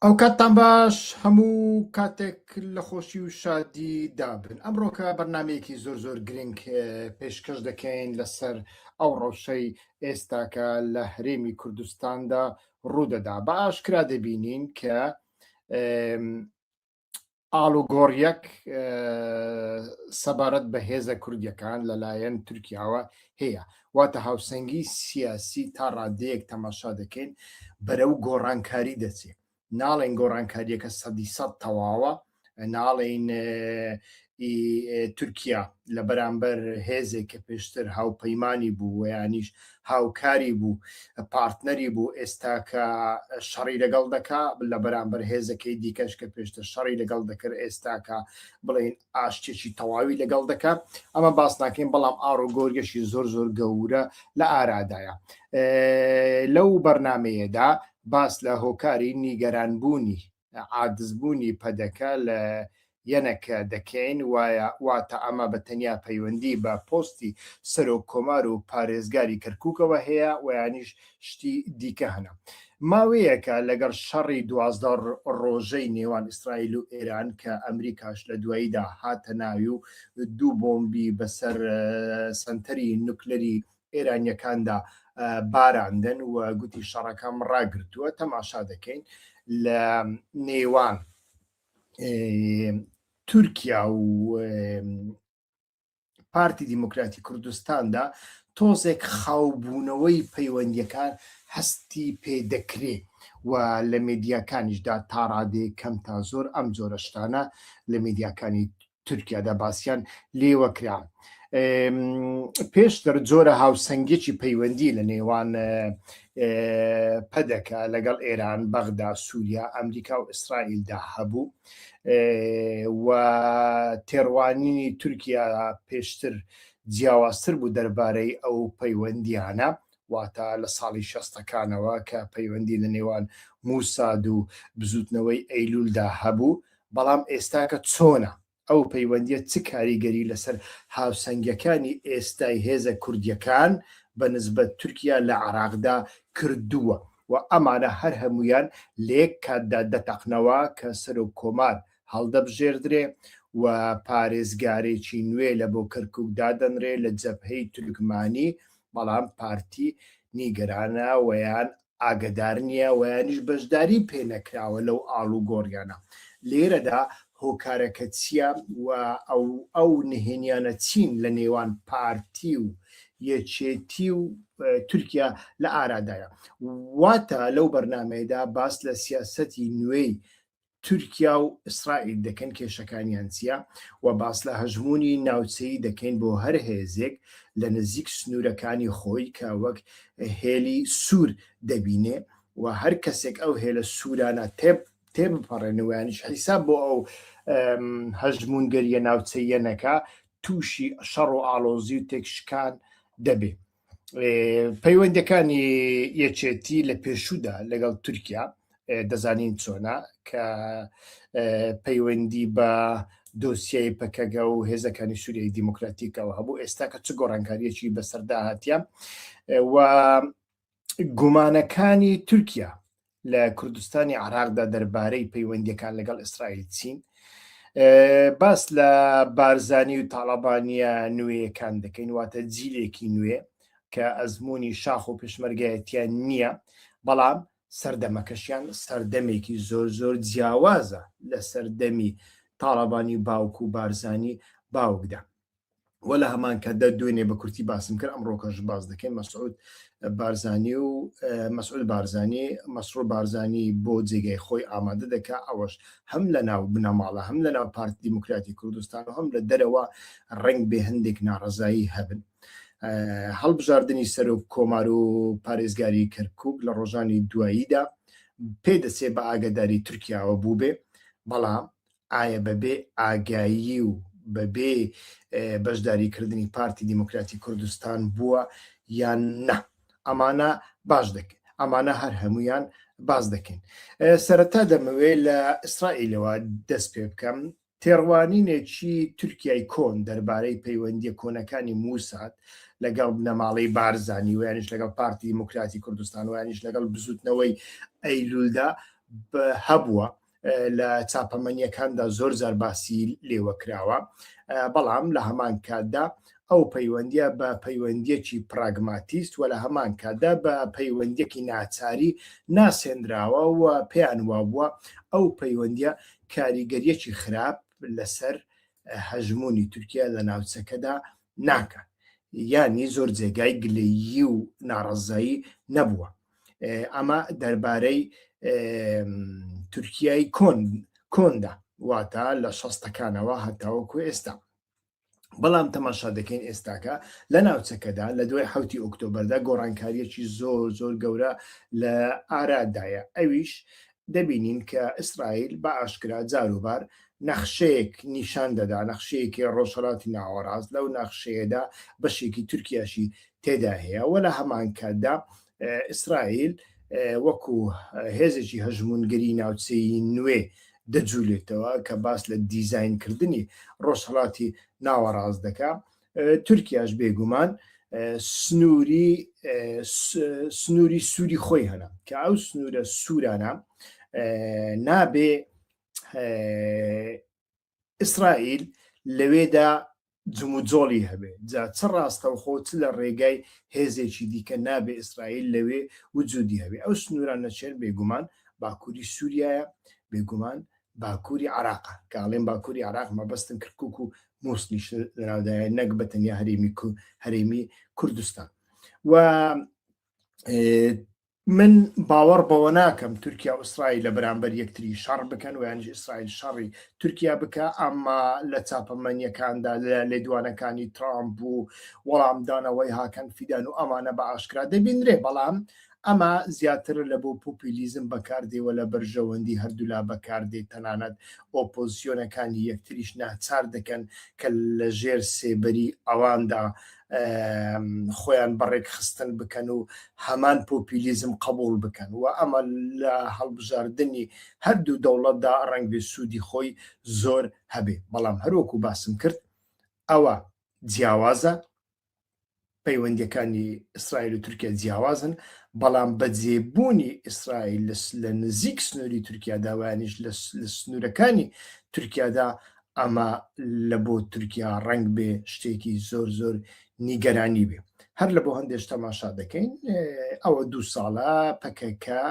ئەوکاتتان باش هەموو کاتێک لە خۆشی و شادی دابن ئەمڕۆکە بەرنمەیەکی زۆر زۆر گرنگ پێشکەش دەکەین لەسەر ئەو ڕەوشەی ئێستاکە لە هەرێمی کوردستاندا ڕوودەدا بە ئاشکرا دەبینین کە ئالوگۆڕیەک سەبارەت بە هێزە کوردیەکان لەلایەن تورکیاوە هەیە واتە هاوسەنگی سیاسی تا ڕادەیەک تەماشا دەکەین بەرەو گۆڕانکاری دەچێت ناڵێن گۆڕانکاریەکە سەدی سەد تەواوە ناڵین ی تورکیا لە بەرامبەر هێزێک کە پێشتر هاوپەیمانی بوو و یانیش هاوکاری بوو پارتنەری بوو ئێستا کە شەڕی لەگەڵ دەکا لە بەرامبەر هێزەکەی دیکەش کە پێشتر شەڕی لەگەڵ دەکرد ئێستاکە بڵین ئاشتێکی تەواوی لەگەڵ دەکا ئەمە باس ناکەین بەڵام ئاڕ و گۆرگەشی زۆر زۆر گەورە لە ئارادایە لەو بەرنمەیەدا باس لە هۆکاری نیگەرانبوونی عادزبوونی پەدەکە لە یەنەکە دەکەین وایە، واتە ئەمە بە تەنیا پەیوەندی بە پۆستی سەرۆک کۆمار و پارێزگاری کەرکوکەوە هەیە وەیانیش شتی دیکە هەنە. ماوەیەکە لەگەڵ شەڕی دوازدە ڕۆژەی نێوان ئیسرائیل و ئێران کە ئەمریکاش لە دواییدا هاتە ناوی و دوو بۆمبی بەسەر سەنتەری نوکلەری ئێرانییەکاندا باراندن و گوتی شەڕەکەم ڕاگرتووە تەماشا دەکەین لە نێوان تورکیا و پارتی دیموکراتی کوردستاندا تۆزێک خاوبوونەوەی پەیوەندیەکان هەستی پێ دەکرێ و لە میدیاکانیشدا تاڕادێ کەم تا زۆر ئەم جۆرەشتانە لە میدیاکانی تورکیادا باسیان لێوە کرا پێشتر جۆرە هاوسەنگێکی پەیوەندی لە نێوان پەدەکە لەگەڵ ئێران بەغدا سووریا ئەمریکا و ئیسرائیلدا هەبوو و تێڕوانینی تورکیا پێشتر جیاوازتر بوو دەربارەی ئەو پەیوەندیانە واتە لە ساڵی شەستەکانەوە کە پەیوەندی لە نێوان موساد و بزوتنەوەی ئەیلولدا هەبوو بەڵام ئێستاکە چۆنە؟ ئەو پەیوەندیە چ کاریگەری لەسەر هاوسەنگیەکانی ئێستای هێزە کوردیەکان بە نسبەت تورکیا لە عێراقدا کردووە و ئەمانە هەر هەموویان لە یەک کاتدا دەتەقنەوە کە سەرۆک کۆمار هەڵدەبژێردرێ و پارێزگارێکی نوێ لە بۆ کەرکوک دادەنرێ لە جەبهەی تورکمانی بەڵام پارتی نیگەرانە وەیان ئاگەدار نیە وەیانیش بەشداری پێ نەکراوە لەو ئاڵوگۆڕیانە لێرەدا هۆکارەکە چیە و ئەو ئەو نهێنیانە چین لە نێوان پارتی و یەکێتی و تورکیا لە ئارادایە واتە لەو بەرنامەیەدا باس لە سیاسەتی نوێی تورکیا و ئیسرائیل دەکەن کێشەکانیان چیە و باس لە هەژموونی ناوچەیی دەکەین بۆ هەر هێزێک لە نزیک سنوورەکانی خۆی کە وەک هێلی سوور دەبینێ و هەر کەسێک ئەو هێلە سوورانە تێب تێبپەڕێنەوە یانیش حیساب بۆ ئەو هەژموونگەریە ناوچەیە نەکا تووشی شەڕ و ئاڵۆزی و تێکشکان دەبێ پەیوەندەکانی یەکێتی لە پێشودا لەگەڵ تورکیا دەزانین چۆنا کە پەیوەندی بە دۆسیای پەکەگە و هێزەکانی سووریای دیموکراتیکەوە هەبوو ئێستا کە چ گۆڕانکاریەکی بەسەردا هاتیە و گومانەکانی تورکیا لە کوردستانی عراقدا دەربارەی پەیوەندیەکان لەگەڵ ئیسرائیل چین باس لە بارزانی و تاالبانە نوێیەکان دەکەین واتە جیلێکی نوێ کە ئەزمموی شاخ و پشمەرگایەتیان نییە بەڵام سەردەمەکەشیان سەردەمێکی زۆر زۆر جیاوازە لە سەردەمی تاالبانی باوک و بارزانی باوکدا وە لە هەمان کاتدا دوێنێ بە کورتی باسم کرد ئەم ڕۆکەش باز دەکەین مەسعود بارزانانی و مەسعود بارزانانی مەسرور بارزانانی بۆ جێگای خۆی ئامادە دەکا ئەوەش هەم لە ناو بنەماڵە هەم لە ناو پارتی دیموکراتی کوردستان و هەم لە دەرەوە ڕنگ بێ هەندێک ناڕزایی هەبن. هەڵبژاردننی سەرۆک کۆمار و پارێزگاری کەرکک لە ڕۆژانی دواییدا پێدەچێ بە ئاگداری تورکیاوە بوو بێ بەڵام ئایا بەبێ ئاگایی و بەبێ بەشداریکردنی پارتی دیموکراتی کوردستان بووە یان نا؟ ئەمانە باش دەکەین. ئەمانە هەر هەمویان باس دەکەین سەرەتا دەمەوێت لە ئیسرائیلەوە دەست پێ بکەم تێڕوانینێکی تورکای کۆن دەربارەی پەیوەندی کۆنەکانی موساد لەگەڵ بنەماڵی بارزانانی ویانش لەگەڵ پارتی دیموکراتی کوردستان ویانش لەگەڵ بزوتنەوەی ئەیلولدا هەبووە لە چاپەمەنیەکاندا زۆر زار باسی لێوە کراوە بەڵام لە هەمان کاتدا ئەو پەیوەندیە بە پەیوەندیەکی پراگماتیست و لە هەمان کاتدا بە پەیوەندیەکی ناچاری ناسێنراوە و پێیان وابووە ئەو پەیوەندیە کاریگەریەکی خراپ لەسەر هەژمونی تورکیا لە ناوچەکەدا ناکات یانی زۆر جێگای گلەیی و ناڕزایی نەبووە ئەمە دەربارەی تورکیای کۆن کۆندا واتە لە شەستەکانەوە هەتاوەکو ئێستا بەڵام تەماشا دەکەین ئێستاکە لە ناوچەکەدا لە دوای حوتی ئۆکتۆبەردا گۆڕانکاریەکی زۆر زۆر گەورە لە ئارادایە ئەویش دەبینین کە ئیسرائیل بە ئاشکرا جاروبار نەخشەیەک نیشان دەدا نەخشەیەکی ڕۆژهەڵاتی ناوەڕاست لەو نەخشەیەدا بەشێکی تورکیاشی تێدا هەیە و لە هەمان کاتدا ئیسرائیل وەکو هێزێکی هەژمونگەری ناوچەی نوێ دەجوولێتەوە کە باس لە دیزینکردنی ڕۆژهڵاتی ناوەڕاست دەکە تورکیاش بێگومان سنووری سنووری سووری خۆی هەنا کە ئەو سنوورە سوورانە نابێ ئیسرائیل لەوێدا جموجۆڵی هەبێ جا چ ڕاستەوخۆ چ لە ڕێگای هێزێکی دیکە نابێ ئیسرائیل لەوێ وجودی هەبێ ئەو سنووران نەچێن بێگومان باکووری سووریایە بێگومان باکووری عێراقە، کە ئەڵێم باکووری عێراق مەبەستم کرکوک و موسڵیش لەناودایە نەک بە تەنیا هەرێمی کو هەرێمی کوردستان و من باوەڕ بەوە ناکەم تورکیا و ئیسرائیل لە بەرامبەر یەکتری شەڕ بکەن ویانش ئیسرائیل شەڕی تورکیا بکە ئەمما لە چاپەمەنیەکاندا لە لێدوانەکانی ترامپ و وەڵامدانەوەی هاکەن فیدان و ئەمانە بە ئاشکرا دەبینرێ بەڵام ئەمە زیاتر لە بۆ پۆپیلیزم بەکاردێ و لە بەرژەوەندی هەردوولا بەکاردێ، تەنانەت ئۆپۆزسیۆنەکانی یەکتریش ناچار دەکەن کە لە ژێر سێبەری ئەواندا خۆیان بە ڕێکخستن بکەن و هەمان پۆپیلیزم قبوڵ بکەن و ئەمە لە هەڵبژاردنی هەردوو دەوڵەتدا ڕەنگبێ سوودی خۆی زۆر هەبێ، بەڵام هەروەکو باسم کرد ئەوە جیاوازە، پەیوەندیەکانی ئیسرائیل و تورکیا جیاوازن بەڵام بە جێبوونی ئیسرائیل لە نزیک سنووری تورکیادا وانیش لە سنوورەکانی تورکیادا ئەمە لە بۆ تورکیا ڕنگ بێ شتێکی زۆر زۆر نیگەرانی بێ هەر لە بۆ هەندێش تەماشا دەکەین ئەوە دوو ساڵە پەکەکە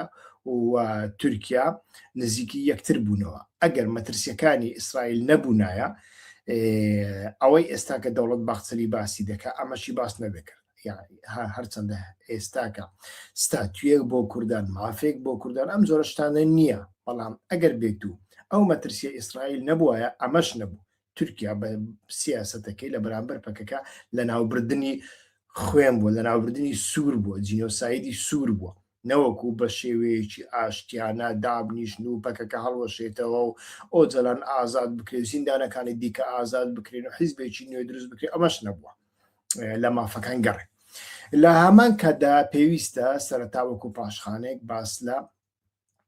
و تورکیا نزیکی یەکتر بوونەوە ئەگەر مەترسیەکانی ئیسرائیل نەبوونایە ئەوەی ئێستا کە دەوڵەت باخچەلی باسی دەکە ئەمەشی باس نەدەکرد هەرچەندە ئێستاکە ستاتویەک بۆ کوردان مافێک بۆ کوردان ئەم جۆرە شتانە نییە بەڵام ئەگەر بێت و ئەو مەترسیە ئیسرائیل نەبووایە ئەمەش نەبوو تورکیا بە سیاستەکەی لە بەرامبەر پەکەکە لە ناوبردننی خوێن بووە لە ناوبردننی سوور بووە جینۆسایدی سوور بووە نەوەکو بە شێوەیەکی ئاشتیانە دابنیشن و پەکەکە هەڵوەشێتەوە و ئۆجەلان ئازاد بکرێ و زیندانەکانی دیکە ئازاد بکرێن و حیزبێکی نوێ دروست بکرێ ئەمەش نەبووە لە مافەکان گەڕێ لە هەمان کاتدا پێویستە سەرەتا وەکو پاشخانێک باس لە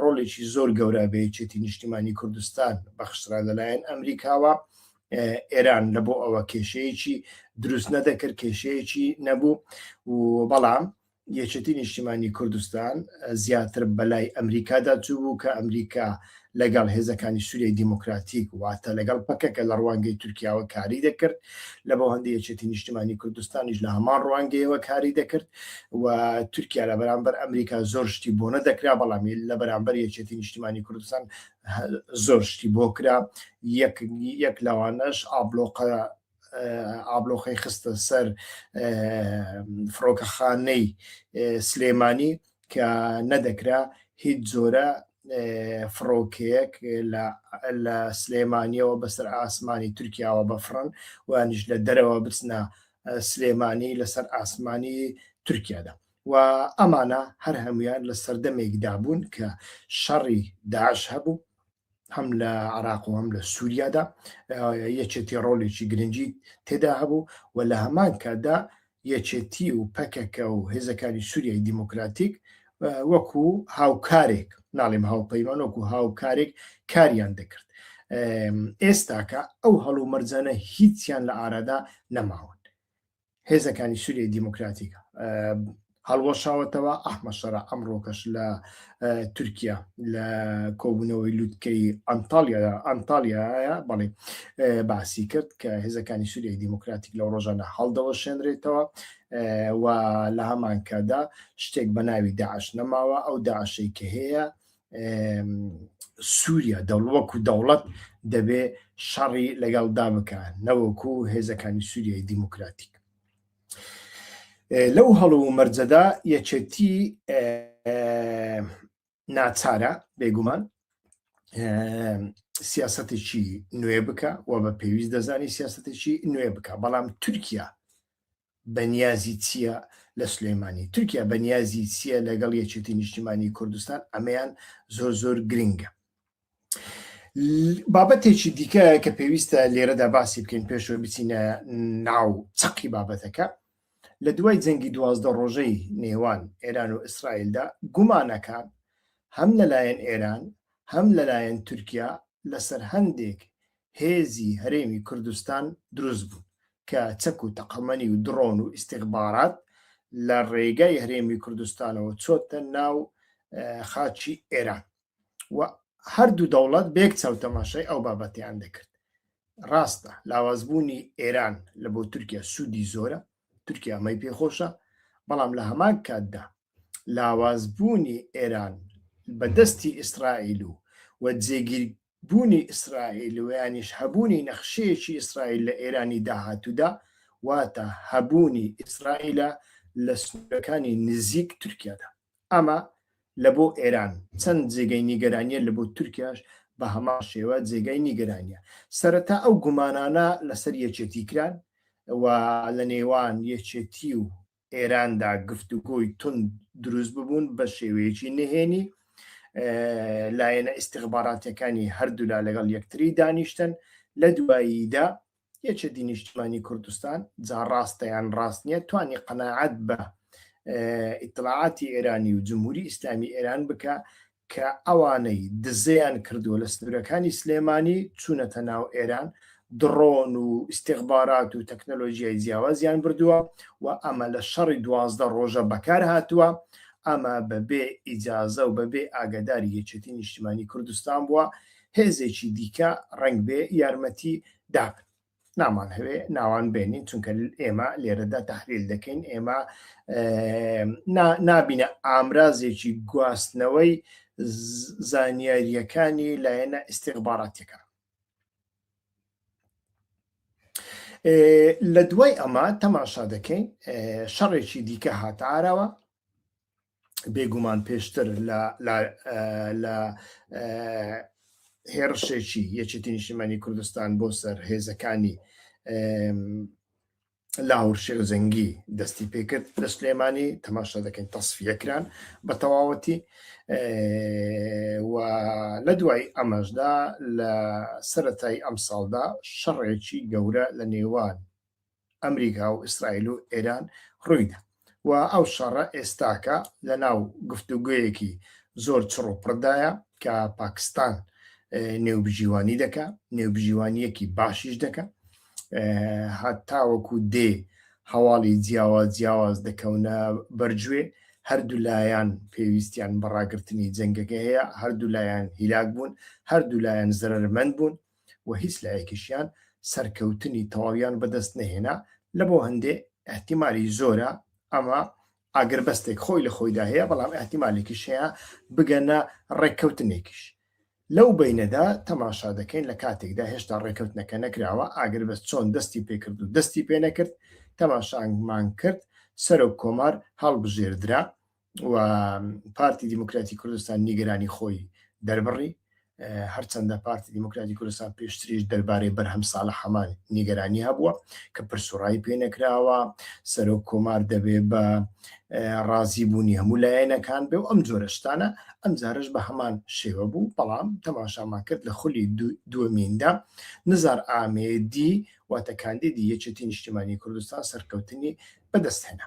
ڕۆڵێکی زۆر گەورە بە یەکێتی نیشتیمانی کوردستان بەخشرا لەلایەن ئەمریکاوە ئێران لە بۆ ئەوە کێشەیەکی دروست نەدەکرد کێشەیەکی نەبوو و بەڵام یەکێتی نیشتیمانی کوردستان زیاتر بەلای ئەمریکادا چوو بوو کە ئەمریکا لەگەڵ هێزەکانی سووری دیموکراتیک واتە لەگەڵ پەکەکە لە ڕوانگەی تورکیاوە کاری دەکرد لە بۆ هەندی یەکێتی نیشتیمانی کوردستانیش لە هەمان ڕوانگەیەوە کاری دەکرد و تورکیا لە بەرامبەر ئەمریکا زۆر شتی بۆ نەدەکرا بەڵام لە بەرامبەر یەکێتی نیشتیمانی کوردستان زۆر شتی بۆ کرا یەک لەوانەش ئابلۆقە ئابلۆخەی خستە سەر فڕۆکەخانەی سلێمانی کە نەدەکرا هیچ جۆرە فڕۆکەیەک لە سلێمانیەوە بەسەر ئاسمانی تورکیاوە بەفرن وانیش لە دەرەوە بچنە سلێمانی لەسەر ئاسمانی تورکیادا و ئەمانە هەر هەمویان لە سەردەمێکدا بوون کە شەڕی داش هەبوو هەم لە عراق و هەم لە سووریادا یەکێتی ڕۆلێکی گرنگی تێدا هەبوو و لە هەمان کاتدا یەکێتی و پەکەکە و هێزەکانی سووریای دیموکراتیک وەکو هاوکارێک ناڵێم هاوپەیمان وەکو هاوکارێک کاریان دەکرد ئێستاکە ئەو هەڵو مەرجانە هیچیان لە ئارادا نەماون هێزەکانی سووریە دیموکراتیکە هەڵوەشاوەتەوە ئەحمە شەرا ئەمڕۆکەش لە تورکیا لە کۆبوونەوەی لوتکەی ئەنتالیا ئەنتالیایە بەڵێ باسی کرد کە هێزەکانی سووریای دیموکراتیک لە ڕۆژانە هەڵدەوە شوێنرێتەوە و لە هەمانکادا شتێک بە ناوی داعش نەماوە ئەو داعشەی کە هەیە سووریا دەوڵوەک و دەوڵەت دەبێ شەڕی لەگەڵدا بکات نەوەکو و هێزەکانی سووریای دیموکراتیک لەو هەڵو و مەرجەدا یەکێتی ناچارە بێگومان سیاستێکی نوێ بکە و بە پێویست دەزانی سیاستێکی نوێ بکە بەڵام تورکیا بەنیازی چییە لە سلێمانی تورکیا بەنیازی چییە لەگەڵ یەکێتی نیشتیمانی کوردستان ئەمەیان زۆر زۆر گرنگە بابەتێکی دیکە کە پێویستە لێرەدا باسی بکەین پێشەوە بچینە ناو چەقی بابەتەکە لە دوای جەنگی دوازدە ڕۆژەی نێوان ئێران و ئیسرائیلدا گومانەکان هەم لەلایەن ئێران هەم لەلایەن تورکیا لەسەر هەندێک هێزی هەرێمی کوردستان دروست بوو کە چەک و تەقەمەنی و دڕۆن و ئیسیغبارات لە ڕێگای هەرێمی کوردستانەوە چۆتە ناو خاچی ئێران و هەردوو دەوڵەت بێک چاو تەماشای ئەو بابەتیان دەکرد ڕاستە لاوازبوونی ئێران لە بۆ تورکیا سوودی زۆرە تورکیا ئەمەی پێخۆشە بەڵام لە هەمان کاتدا لاوازبوونی ئێران بە دەستی ئیسرائیل و و جێگیر بوونی ئیسرائیل و یانیش هەبوونی نەخشەیەکی ئیسرائیل لە ئێرانی داهاتوودا واتە هەبوونی ئیسرائیلە لە سنوورەکانی نزیک تورکیادا ئەمە لە بۆ ئێران چەند جێگەی نیگەرانیە لە بۆ تورکیاش بە هەمان شێوە جێگای نیگەرانیە. سەرەتا ئەو گومانانە لە سەر یەکێتی کران و لە نێوان یەکێتی و ئێراندا گفتوگۆی توند دروست ببوون بە شێوەیەکی نهێنی لایەنە ئیستیخباراتەکانی هەردوولا لەگەڵ یەکتری دانیشتن لە دواییدا یەکێتی نیشتمانی کوردستان جا ڕاستە یان ڕاست نییە توانی قەناعەت بە ئیتلاعاتی ئێرانی و جمهوری ئیسلامی ئێران بکە کە ئەوانەی دزەیان کردووە لە سنوورەکانی سلێمانی چوونەتە ناو ئێران دڕۆن و استخبارات و تەکنەلۆژیای جیاوازیان بردووە و ئەمە لە شەڕی دوازدە ڕۆژە بەکار هاتووە ئەمە بەبێ ئیجازە و بەبێ ئاگداری یەکێتی نیشتمانی کوردستان بووە هێزێکی دیکە ڕەنگبێ یارمەتی دابن نامان هەوێ ناوان بێنین چونکە ئێمە لێرەدا تحلیل دەکەین ئێمە نابینە ئامرازێکی گواستنەوەی زانیاریەکانی لایەنە ئیسیغباراتەکە لە دوای ئەمە تەماشا دەکەین شەڕێکی دیکە هاتارەوە بێگومان پێشتر لە هێرشێکی یەکێتی نیشتمانی کوردستان بۆ سەر هێزەکانی لاهور شێرزەنگی دەستی پێکرد لە سلێمانی تەماشا دەکەین تەسفیەکران بە تەواوەتی و لە دوای ئەمەشدا لە سەتای ئەم ساڵدا شەڕێکی گەورە لە نێوان ئەمریکا و ئیسرائیل و ئێران ڕوویدا و ئەو شەڕە ئێستاکە لە ناو گفتوگۆیەکی زۆر چڕ و پڕدایە کە پاکستان نێوبژیوانی دەکا نێوبژیوانیەکی باشیش دەکە هەتاوەکو دێ هەواڵی جیاوا جیاواز دەکەونە بەرجوێ هەردوو لایەن پێویستیان بەڕاگرتنی جەنگەکە هەیە هەردوو لایەن هیلاک بوون هەردوو لایەن زەرمەند بوون و هیچ لایەکیشیان سەرکەوتنی تەواویان بەدەست نەهێنا، لەبۆ هەندێ ئیحتیمالی زۆرە ئەمە ئاگربەستێک خۆی لە خۆیدا هەیە، بەڵام ئیحتیمالێکیش هەیە بگەنە ڕێککەوتنێکیش. لەو بەینەدا تەماشا دەکەین لە کاتێکدا هێشتا ڕێککەوتنەکە نەکراوە، ئاگربەست چۆن دەستی پێکرد و دەستی پێنەکرد، تەماشامان کرد سەرۆک کۆمار هەڵبژێردرا، و پارتی دیموکراتی کوردستان نیگەرانی خۆی دەربڕی هەرچەندە پارتی دیموکراتی کوردستان پێشتریش دەربارەی بەرهەم ساڵە حەمان نیگەرانی هەبووە کە پرسوڕایی پێ نەکراوە سەرۆک کۆمار دەبێ بە ڕازی بوونی هەموو لایەنەکان بێ و ئەم جۆرەشتانە ئەم جارش بە هەمان شێوە بوو بەڵام تەماشامان کرد لە خولی دووەمیندا نزار ئامێدی واتە کاندیدی یەکێتی نیشتیمانی کوردستان سەرکەوتنی بەدەستهێنا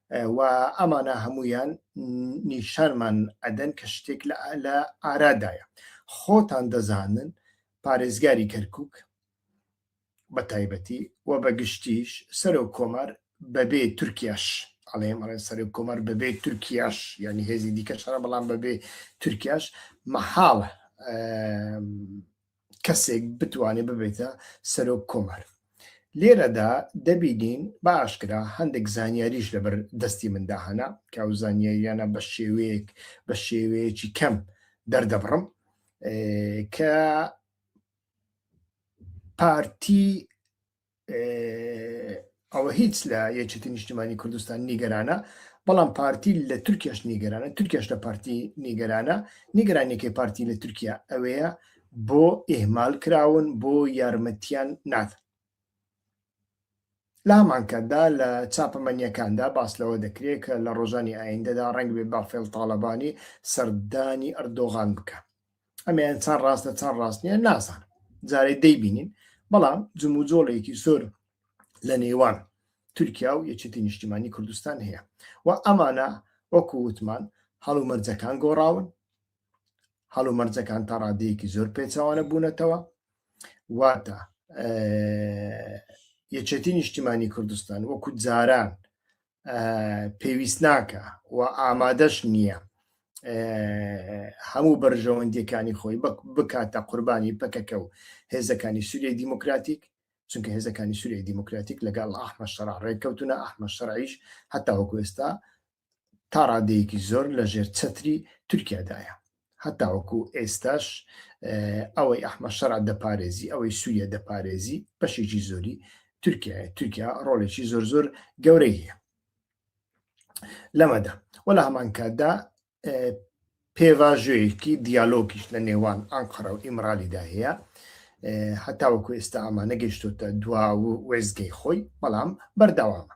و ئەمانە هەموویان نیشانمان ئەدەن کە شتێک لە ئارادایە خۆتان دەزانن پارێزگاری کەرکک بە تایبەتی و بە گشتیش سەرۆک کۆمار بەبێ تورکیاش ئەڵێم ئەڵێ سەرۆک کۆمار بەبێ تورکیاش ینی هێزی دیکە شەڕە بەڵام بەبێ تورکیاش مەحاڵە کەسێک بتوانێت ببێتە سەرۆک کۆمار لێرەدا دەبینین بە ئاشکرا هەندێک زانیاریش لەبەر دەستی مندا هەنا کە ئەو زانیاریانە بە شێوەیەک بە شێوەیەکی کەم دەردەبڕم کە پارتی ئەوە هیچ لە یەکێتی نیشتمانی کوردستان نیگەرانە بەڵام پارتی لە تورکیاش نیگەرانە تورکیاش لە پارتی نیگەرانە نیگەرانێکی پارتی لە تورکیا ئەوەیە بۆ ئێمال کراون بۆ یارمەتیان نات لامانکەدا لە چاپەمەنیەکاندا باس لەوە دەکرێت کە لە ڕۆژانی ئایندەدا ڕنگ بێ بافێڵ تاالبانی سەردانی ئەردۆغان بکە ئەمیان چەند ڕاستە چەند ڕاست نیە نازان جارێ دەیبینین بەڵام جموجۆڵێکی زۆر لە نێوان تورکیا و یەکێتی نیشتیمانی کوردستان هەیە و ئەمانە وەکو وتمان هەڵومەرجەکان گۆڕاون هەڵومەرجەکان تا ڕادەیەکی زۆر پێچوانە بوونەتەوە واتە یەکێتی نیشتیمانی کوردستان وەکو جاران پێویست ناکە و ئامادەش نییە هەموو بەرژەوەندیەکانی خۆی بکاتە قوربانی پەکەکە و هێزەکانی سووریە دیموکراتیک چونکە هێزەکانی سووریە دیموکراتیک لەگەڵ ئەحمە شەڕ ڕێککەوتونە ئەحمە شەڕیش هەتا وەکوێستا تا ڕادەیەکی زۆر لە ژێر چەتری تورکیادایە هەتاوەکو ئێستاش ئەوەی ئەحمە شەرع دەپارێزی ئەوەی سووریە دەپارێزی بەشێکی زۆری تورکیا تورکیا ڕۆڵێکی زۆر زۆر گەورەی هەیە لەمەدا وەلا هەمان کاتدا پێواژوەیەکی دیالۆگیش لە نێوان ئەنقەرە و ئیمرالیدا هەیە هەتاوەکو ئێستا ئەمانە گەشتوتە دوا و وێزگەی خۆی بەڵام بەرداوامە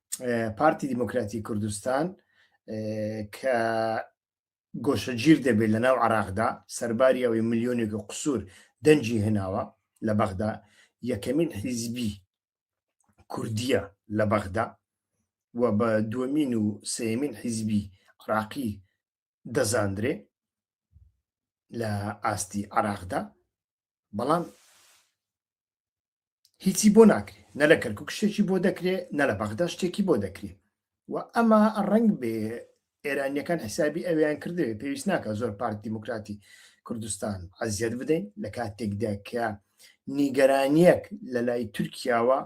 پارتی دیموکراتی کوردستان کە گۆشەگیر دەبێت لە ناو عراقدا سەرباری ئەوەی ملیۆنێک و قسوور دەنجی هێناوە لە بەغدا یەکەمین حیزبی کوردیە لە بەغدا و بە دومین و سێمین حیزبی عراقی دەزاندرێ لە ئاستی عراقدا بەڵام هیچی بۆ ناکرێ نە لە کەرکک شتێکی بۆ دەکرێ نە لە بەغدا شتێکی بۆ دەکرێ و ئەمە ڕنگ بێ ئێرانیەکان حسابی ئەویان کردوێ پێویست ناکە زۆر پارت دیموکراتی کوردستان عزیەت بدەین لە کاتێکدا کە نیگەرانیەک لە لای تورکیاوە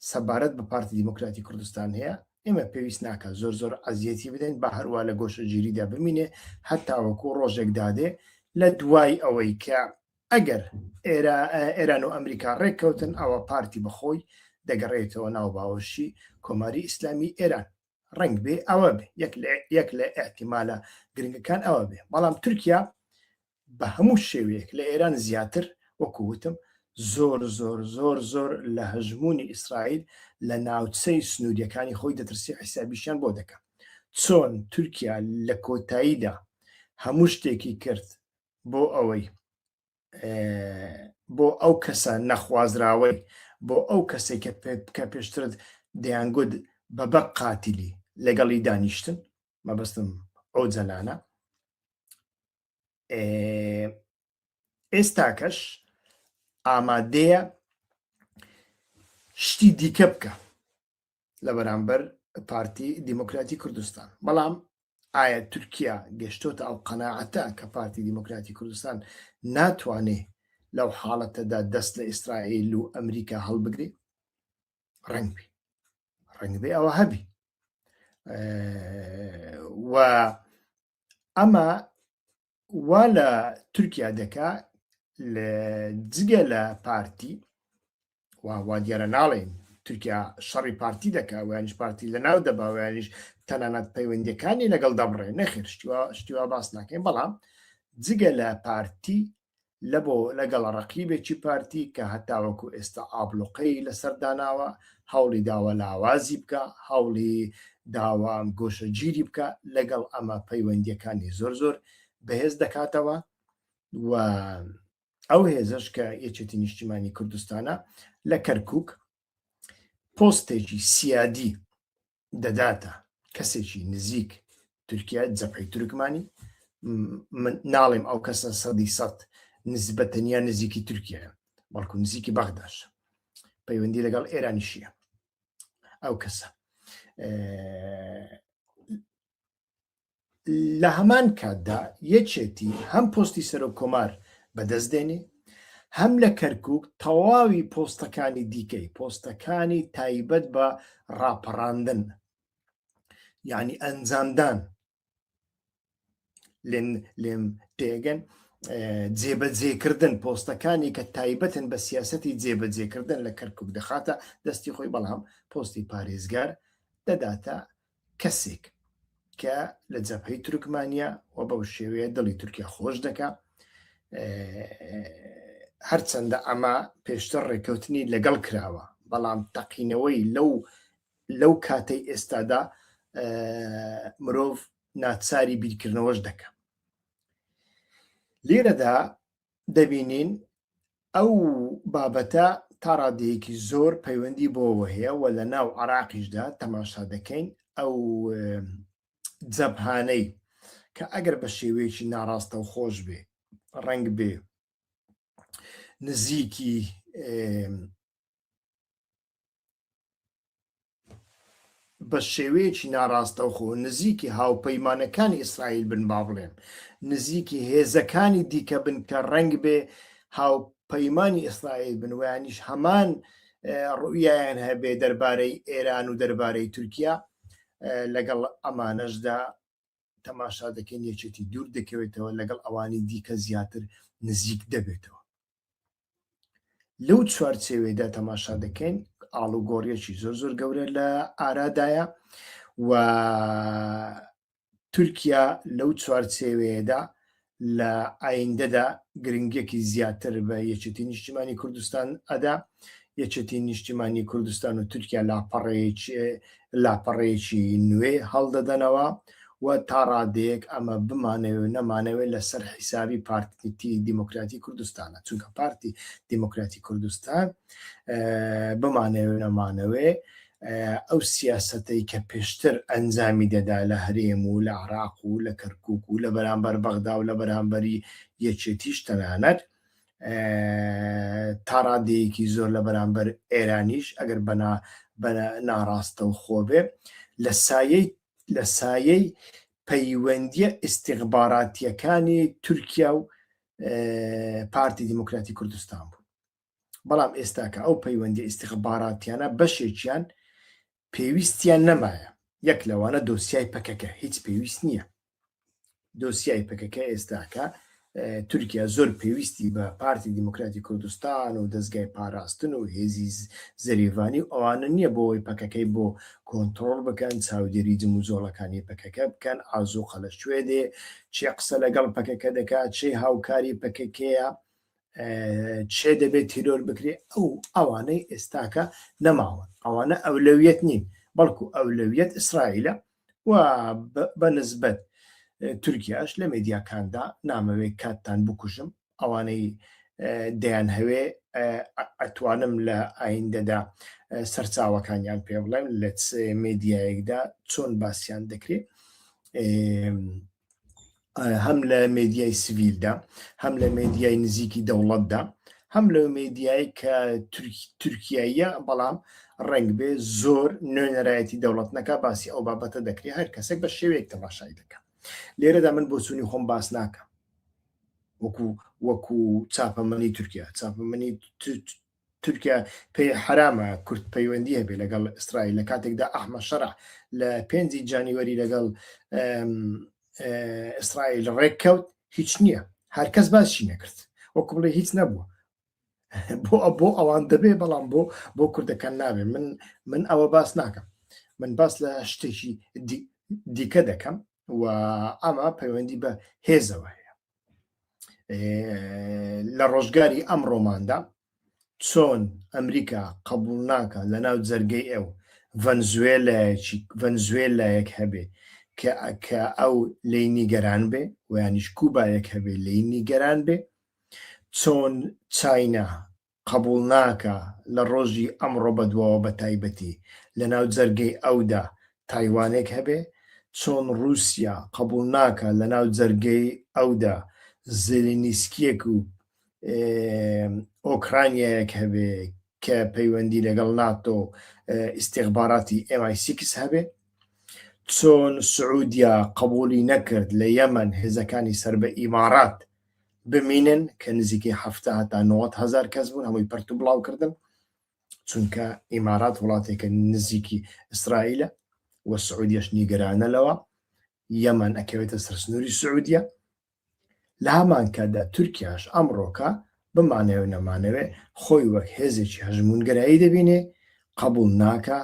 سەبارەت بە پارتی دیموکراتی کوردستان هەیە ئێمە پێویست ناکە زۆر زۆر ئەزیەتی بدەین بە هەروە لە گۆشەگیریدا بمینێ هەتاوەکو ڕۆژێک دادێ لە دوای ئەوەی کە ئەگەر ئێران و ئەمریکا ڕێککەوتن ئەوە پارتی بەخۆی دەگەڕێتەوە ناو باوەشی کۆماری ئیسلامی ئێران ڕنگ بێ ئەوە بێ یەک لە ئەحتیمالە گرنگەکان ئەوە بێ بەڵام تورکیا بە هەموو شێوەیەک لە ئێران زیاتر، وەکو وتم زۆر زۆر زۆر زۆر لە هەژموونی ئیسرائیل لە ناوچەی سنوورییەکانی خۆی دەترسێ حیسابیشیان بۆ دەکا. چۆن تورکیا لە کۆتاییدا هەموو شتێکی کرد بۆ ئەوەی بۆ ئەو کەسە نەخوازراوەی بۆ ئەو کەسێک کە پێ بکە پێشترت دەیانگوت بە بە قاتیلی لەگەڵی دانیشتن مەبەستم ئەو جەلانە ئێستاکەش ئامادەیە شتی دیکە بکە لە بەرامبەر پارتی دیموکراتی کوردستان بەڵام ئایا تورکیا گەشتۆتە ئەو قەنەعەتە کە پارتی دیموکراتی کوردستان ناتوانێ لەو حاڵەتەدا دەست لە ئیسرائیل و ئەمریکا هەڵبگرێ ڕنگبی ڕنگبێ ئەوە هەبی و ئەمە وا لە تورکیا دەکا لە جگە لە پارتی وا دیارە ناڵێن تورکیا شەڕی پارتی دەکا ویانش پارتی لە ناو دەباویانش تەنانەت پەیوەندەکانی لەگەڵ دەبڕێ نەخێر شتیوا شتیوا باس ناکەین بەڵام جگە لە پارتی لە بۆ لەگەڵ ڕەقیبێکی پارتی کە هەتاوەکو ئێستا ئابڵوقەی لەسەر داناوە، هەوڵی داوە لاوازی بکا، هەوڵی داوە گۆشەگیری بکا، لەگەڵ ئەمە پەیوەندییەکانی زۆر زۆر بەهێز دەکاتەوە و ئەو هێزش کە یەکێتی نیشتیمانی کوردستانە لە کەرکک پۆستێکی سیادی دەداتە کەسێکی نزیک تورکیا جەپەی تورکمانی من ناڵێم ئەو کەسە سەدی سەد نزبە تەنیا نزیکی تورکیا بەڵکو نزیکی بەغداش پەیوەندی لەگەڵ ئێرانیشیە ئەو کەسە لە هەمان کاتدا یەکێتی هەم پۆستی سەرۆک کۆمار بەدەست دێنێ هەم لە کەرکک تەواوی پۆستەکانی دیکەی پۆستەکانی تایبەت بە ڕاپەڕاندن یعنی ئەنجامدان لێن لێم تێگەن جێبەجێکردن پۆستەکانی کە تایبەتن بە سیاستی جێبەجێکردن لە کەرکک دەخاتە دەستی خۆی بەڵام پۆستی پارێزگار دەداتە کەسێک کە لە جەبهەی تورکمانیا و بەو شێوەیە دڵی تورکیا خۆش دەکا هەرچەندە ئەمە پێشتر ڕێککەوتنی لەگەڵ کراوە بەڵام تەقینەوەی لەو لەو کاتەی ئێستادا مرۆڤ ناچاری بیرکردنەوەش دەکە لێرەدا دەبینین ئەو بابەتە تا ڕادەیەکی زۆر پەیوەندی بۆەوە هەیە و لە ناو عراقیشدا تەماشا دەکەین ئەو جەبهانەی کە ئەگەر بە شێوەیەکی ناڕاستە و خۆش بێ ڕنگ بێ نزیکی بە شێوەیەکی ناڕاستەوخۆ نزیکی هاوپەیمانەکانی ئیسرائیل بن با بڵێم نزیکی هێزەکانی دیکە بن کە ڕنگ بێ هاوپەیمانی ئیسرائیل بن ویانیش هەمان ڕویان هەبێ دەربارەی ئێران و دەربارەی تورکیا لەگەڵ ئەمانەشدا تەماشا دەکەین یەکێتی دوور دەکەوێتەوە لەگەڵ ئەوانی دیکە زیاتر نزیک دەبێتەوە لەو چوارچێوێدا تەماشا دەکەین ئاڵوگۆڕیەکی زۆر زۆر گەورە لە ئارادایە و تورکیا لەو چوارچێوەیەدا لە ئایندەدا گرنگێکی زیاتر بە یەکێتی نیشتیمانی کوردستان ئەدا یەکێتی نیشتیمانی کوردستان و تورکیا لاپەڕەیەکی لاپەڕەیەکی نوێ هەڵدەدەنەوە و تا ڕادەیەک ئەمە بمانەوێ و نەمانەوێ لەسەر حیسابی پارتی دیموکراتی کوردستانە چونکە پارتی دیموکراتی کوردستان بمانەوێ نەمانەوێ ئەو سیاستەی کە پێشتر ئەنجامی دەدا لە هەرێم و لە عراق و لە کەرکک و لە بەرامبەر بەغدا و لە بەرامبەری یەکێتیش تەنانەت تاڕادەیەکی زۆر لە بەرامبەر ئێرانیش ئەگەر بەنا بە ناڕاستە و خۆبێ لە سایەی لە سایەی پەیوەندییە ئیستیخباراتییەکانی تورکیا و پارتی دیموکراتی کوردستان بوو بەڵام ئێستاکە ئەو پەیوەندی ئیستیخباراتیانە بەشێکیان پێویستیان نەمایە یەک لەوانە دۆسیای پەکەکە هیچ پێویست نییە دۆسیای پەکەکە ئێستاکە تورکیا زۆر پێویستی بە پارتی دیموکراتی کوردستان و دەستگای پاراستن و هێزی زەریڤانی و ئەوانە نییە بۆەوەی پەکەکەی بۆ کۆنتترۆل بکەن چاودێری جم و جۆڵەکانی پەکەکە بکەن ئازوو قەلە شوێ دێ چێ قسە لەگەڵ پەکەکە دەکات چێ هاوکاری پەکەکەیە چێ دەبێت تیرۆر بکرێ ئەو ئەوانەی ئێستاکە نەماوە ئەوانە ئەولەویەت نین بەڵکو ئەولەویەت ئیسرائیلە و بە نسبەت تورکیاش لە مێدیاکاندا نامەوێ کاتتان بکوژم ئەوانەی دەیانهەوێ ئەتوانم لە ئایندەدا سەرچاوەکانیان پێ بڵێم لە مێدیایەکدا چۆن باسییان دەکرێت هەم لە مێدیای سڤیلدا هەم لە مێدیای نزیکی دەوڵەتدا هەم لەو مێدیای کە تورکاییە بەڵام ڕنگ بێ زۆر نوێنەرایەتی دەوڵەت نەکە باسی ئەو بابەتە دەکرێت هەر کەسێک بە شێوەیەک تەماشای دەکە لێرەدا من بۆچوونی خۆم باس ناکەم وەکو وەکو چاپەمەنی تورکیا چاپەمەنی تورکیا پێی حەرامە کورد پەیوەندی هەبێت لەگەڵ ئیسرائیل لە کاتێکدا ئەحمە شەرع لە پێنجی جانیوەری لەگەڵ ئیسرائیل ڕێککەوت هیچ نییە هەرکەس باشی نەکرد وەکو بڵێ هیچ نەبووە بۆ بۆ ئەوان دەبێ بەڵام بۆ بۆ کوردەکان نابێ من من ئەوە باس ناکەم من باس لە شتێکی دیکە دەکەم و ئەمە پەیوەندی بە هێزەوە هەیە لە ڕۆژگاری ئەمڕۆماندا چۆن ئەمریکا قبول ناکە لە ناو جەرگەی ئەو ڤەنزوێلایەکی ڤەنزوێلایەک هەبێ کە کە ئەو لی نیگەران بێ ویانیش کوبایەک هەبێ لی نیگەران بێ چۆن چاینا قبوڵ ناکا لە ڕۆژی ئەمڕۆ بەدواوە بەتایبەتی لەناو جەرگەی ئەودا تایوانێک هەبێ چۆن ڕووسیا قبوڵ ناکا لەناو جەرگەی ئەودا زێلینیسکیەک و ئۆکرانیایەک هەبێ کە پەیوەندی لەگەڵ ناتۆ و ئیستیخباراتی ئێم ئای سیکس هەبێ چۆن سعودیا قبوڵی نەکرد لە یەمەن هێزەکانی سەر بە ئیماڕات بمینن کە نزیکەی حەفتا هەتا نۆەت هەزار کەس بوون هەمووی پرت و بڵاو کردن چونکە ئیمارات وڵاتێکە نزیکی ئیسرائیلە و سعودیش نیگەرانە لەوە یەمان ئەکەوێتە سەرسنووری سعودیە لە هەمان کاتدا تورکیاش ئەمڕۆکە بمانەوە نەمانەوێ خۆی وەک هێزێکی هەژمونگەرایی دەبینێ قبول ناکە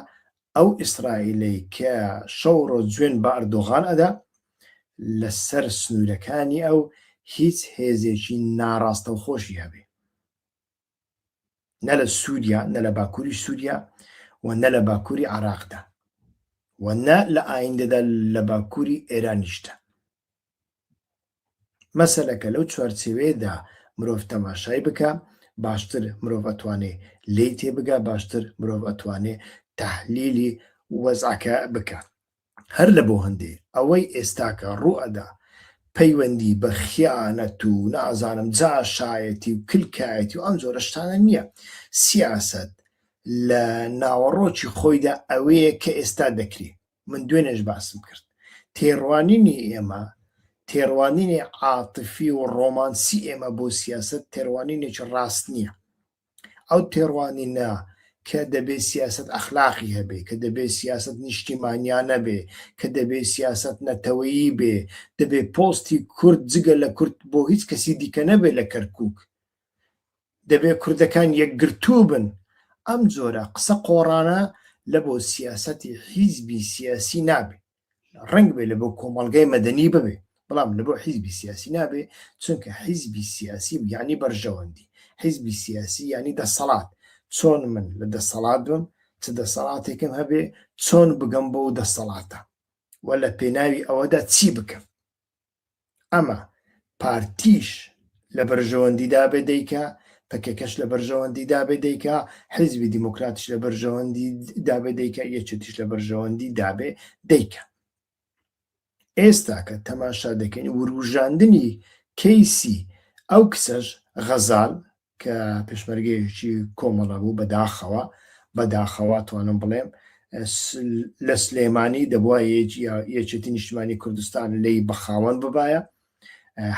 ئەو ئیسرائیلەی کە شەو ڕۆ جوێن بە ئەردۆغان ئەدا لە سەر سنوورەکانی ئەو هیچ هێزێکی ناڕاستەوخۆشی هەبێ نە لە سووریا نە لە باکووری سووریا و نە لە باکووری عراقدا و نە لە ئایندەدا لە باکووری ئێرانیشتە مەسەلەکە لەو چوارچێوەیەدا مرۆڤ تەماشای بکە باشتر مرۆڤ ئەتوانێ لی تێبگا باشتر مرۆڤ ئەتوانێ تحلیلی وەزعەکە بکە هەر لە بۆ هەندێ ئەوەی ئێستاکە ڕوئەدا پەیوەندی بە خیانەت و نازانم جاشایەتی و کلکایەتی و ئەم جۆرە شتانە نییە سیاست لە ناوەڕۆکی خۆیدا ئەوەیە کە ئێستا دەکری من دوێنێش باسم کرد تێڕوانینی ئێمە تێڕوانینی عاتفی و ڕۆمانسی ئێمە بۆ سیاست تێڕوانینێکی ڕاست نییە ئەو تێڕوانینە کە دەبێت سیاست ئەخلاقی هەبێ کە دەبێت سیاست نیشتیمانیانە بێ کە دەبێت سیاست نەتەوەیی بێ دەبێت پۆستی کورد جگە لە کورد بۆ هیچ کەسی دیکە نەبێت لە کەرکک دەبێ کوردەکان یەکگرتوو بن. ئەم جۆرە قسە قۆڕانە لە بۆ سیاسەتی حیزبی سیاسی نابێ. ڕەنگ بێ لە بۆ کۆمەڵگای مەدەنی ببێ، بەڵام لە بۆ حیزبی سیاسی نابێ، چونکە حیزبی سیاسی یانی بەرژەوەندی، حیزبی سیاسی یانی دەسەڵات. چۆن من لە دەسەڵات بم، چ دەسەڵاتێکم هەبێ، چۆن بگەم بەو دەسەڵاتە و لە پێناوی ئەوەدا چی بکەم؟ ئەمە پارتیش لە بەرژەوەندیدا بێ دەیکا پەکەکەش لە بەرژەوەندیدا بێ دەیکا حیزبی دیموکراتش لە بەرژەوەندی دابێ دەیکا یەکێتیش لە بەرژەوەندی دابێ دەیکا ئێستاکە تەماشا دەکەین وروژاندنی کەیسی ئەو کچەش غەزال کە پێشمەرگەیەکی کۆمەڵە بوو بەداخەوە بەداخەوە توانم بڵێم لە سلێمانی دەبواە یەکێتی نیشتمانی کوردستان لی بەخاوەن ببایە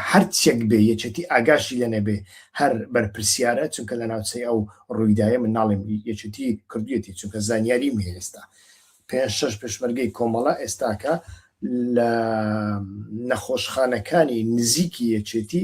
هەرچێک بێ یەکێتی ئاگاشی لە نەبێ هەر بەرپرسیارە چونکە لە ناوچەی ئەو ڕوویدایە من ناڵێم یەکێتی کردویەتی چونکە زانیاری می ئێستا پێ شش پێشمەرگەی کۆمەڵە ئێستاکە لە نەخۆشخانەکانی نزیکی یەکێتی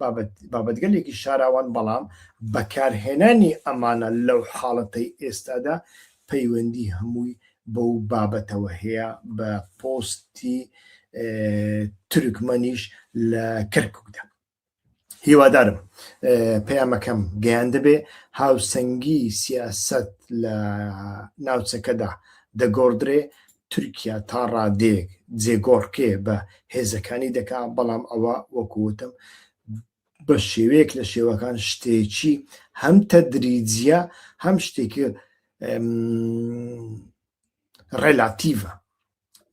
بابەت بابەتگەلێکی شاراوان بەڵام بەکارهێنانی ئەمانە لەو حاڵەتەی ئێستادا پەیوەندی هەمووی بەو بابەتەوە هەیە بە پۆستی تورکمەنیش لە کەرککدا هیوادارم پەیامەکەم گەیاندەبێ هاوسەنگی سیاست لە ناوچەکەدا دەگۆڕدرێ تورکیا تا ڕادەیەک جێگۆڕکێ بە هێزەکانی دەکا، بەڵام ئەوە وەکو وتم بە شێوەیەک لە شێوەکان شتێکی هەم تەدریجیە هەم شتێکی ڕێلاتیڤە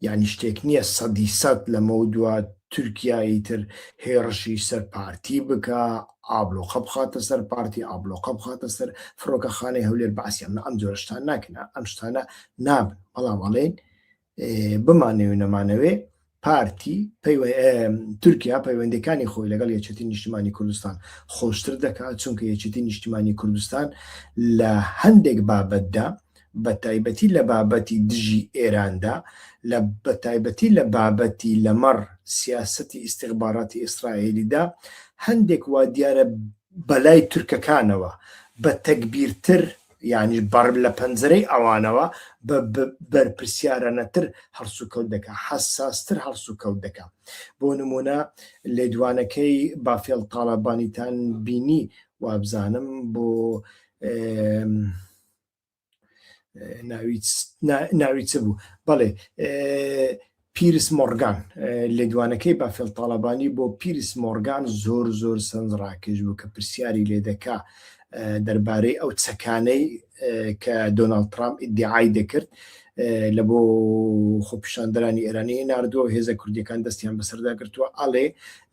یعنی شتێک نییە سەدی سەد لەمە دووە تورکیایی تر هێڕشی سەر پارتی بکە ئابلۆخە بخاتە سەر پارتی ئابلۆخە بخاتە سەر فڕۆکەخانەی هەولێر باسییان ئەم جۆرشتان ناکنە ئەم شتانە نابن بەڵام ئەڵێن بمانەوێ نەمانەوێ پارتی تورکیا پەیوەندەکانی خۆی لەگەڵ یەچێتی نیشتمانی کوردستان خۆشتر دەکات چونکە یەچێتی نیشتمانی کوردستان لە هەندێک بابەتدا بە تایبەتی لە بابەتی دژی ئێراندا لە بە تایبەتی لە بابەتی لەمەڕ سیاستی ئیسیغباراتی ئیسرائیلیدا هەندێک وا دیارە بەلای تورکەکانەوە بە تەکبیرتر یانیش بەڕ لە پەنجەرەی ئەوانەوە بە بەرپرسیارانەتر هەڵسوکەوت دەکا، حەساستر هەڵسوکەوت دەکا. بۆ نموونە لێدوانەکەی بافێڵ تاڵەبانیتان بینی وابزانم بۆ ناوی چ بوو بەڵێ پیرس مۆڕگان، لێدوانەکەی بافێڵ تاڵەبانی بۆ پیرس مۆڕگان زۆر زۆر سەرنجڕاکێش بوو کە پرسیاری لێ دەکا دەربارەی ئەو چەکانەی کە دۆناڵد ترامپ ئیدیعای دەکرد لە بۆ خۆپیشاندەرانی ئێرانی ناردووە هێزە کوردیەکان دەستیان بەسەردا گرتووە ئەڵێ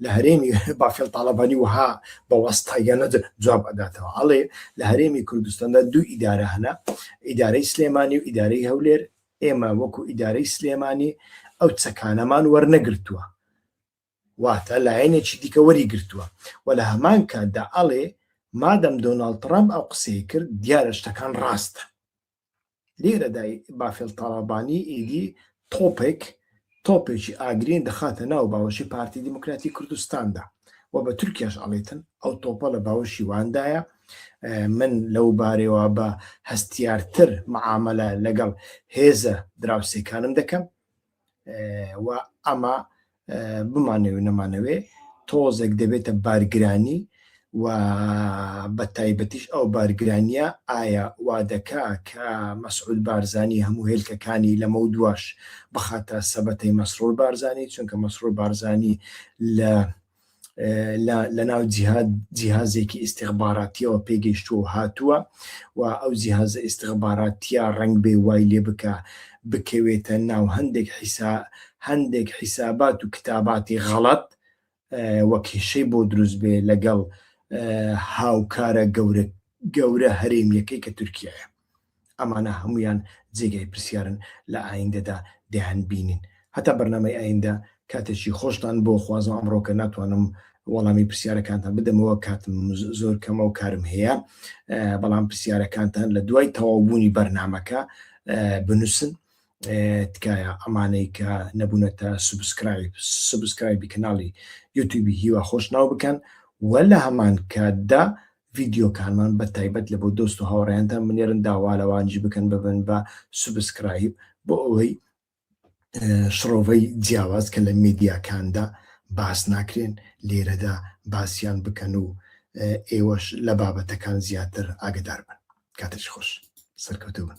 لە هەرێمی بافێڵ تاڵەبانی وها بە وەستاییانە جواب ئەداتەوە ئەڵێ لە هەرێمی کوردستاندا دوو ئیدارە هەنا ئیدارەی سلێمانی و ئیدارەی هەولێر ئێمە وەکو ئیدارەی سلێمانی ئەو چەکانەمان وەرنەگرتووە واتە لایەنێکی دیکە وەری گرتووە و لە هەمان کاتدا ئەڵێ مادەم دۆناڵد ترامپ ئەو قسەی کرد دیارە شتەکان ڕاستە لێرەدا بافێڵ تاڵەبانی ئیدی تۆپێک تۆپێکی ئاگرین دەخاتە ناو باوەشی پارتی دیموکراتی کوردستاندا و بە تورکیاش ئەڵیتن ئەو تۆپە لە باوەشی واندایە من لەو بارەوە بە هەستیارتر معاملە لەگەڵ هێزە دراوسێکانم دەکەم و ئەمە بمانەوێ نەمانەوێ تۆزێک دەبێتە بارگرانی و بەتایبەتیش ئەو بارگرانییە ئایا وادەکا کە مەسعود بارزانی هەموو هێلکەکانی لەمەو دواش بخاتە سەبەتەی مەسرور بارزانی چونکە مەسرور بارزانی لە لەناو جیهازێکی ئیسیخباراتیەوە پێگەیشتووە و هاتووە و ئەو جیهازە ئیسیخباراتیا ڕنگ بێ وای لێ بکە بکەوێتە ناو هەندێک حیسا هەندێک حیسابات و کتاباتی غەڵەت و کێشەی بۆ دروست بێ لەگەڵ هاوکارە گەورە گەورە هەرێمیەکەی کە تورکیایە ئەمانە هەمویان جێگای پرسیارن لە ئایندەدا دەیان بینین هەتا بەرنامەی ئایندە کاتێکی خۆشتان بۆ خوازم ئەمڕۆکە ناتوانم وەڵامی پرسیارەکانتان بدەمەوە کاتم زۆر کەمە و کارم هەیە بەڵام پرسیارەکانتان لە دوای تەواوبوونی بەرنمەکە بنووسن تکایە ئەمانەی کە نەبوونەتە سوبسکرایب سوبسکرایبی کەناڵی یوتیوبی هیوا خۆش ناو بکەن و لە هەمان کاتدا ڤیدیۆکانمان بە تایبەت لە بۆ دۆست و هاوڕێیاندا منێرن داوالەوانجی بکەن ببن بە سوبسکرایب بۆ ئەوەی شڕۆڤەی جیاواز کە لە میدیاکاندا باس ناکرێن لێرەدا باسییان بکەن و ئێوەش لە بابەتەکان زیاتر ئاگدار بن کاتش خۆش سەرکەوتوو بن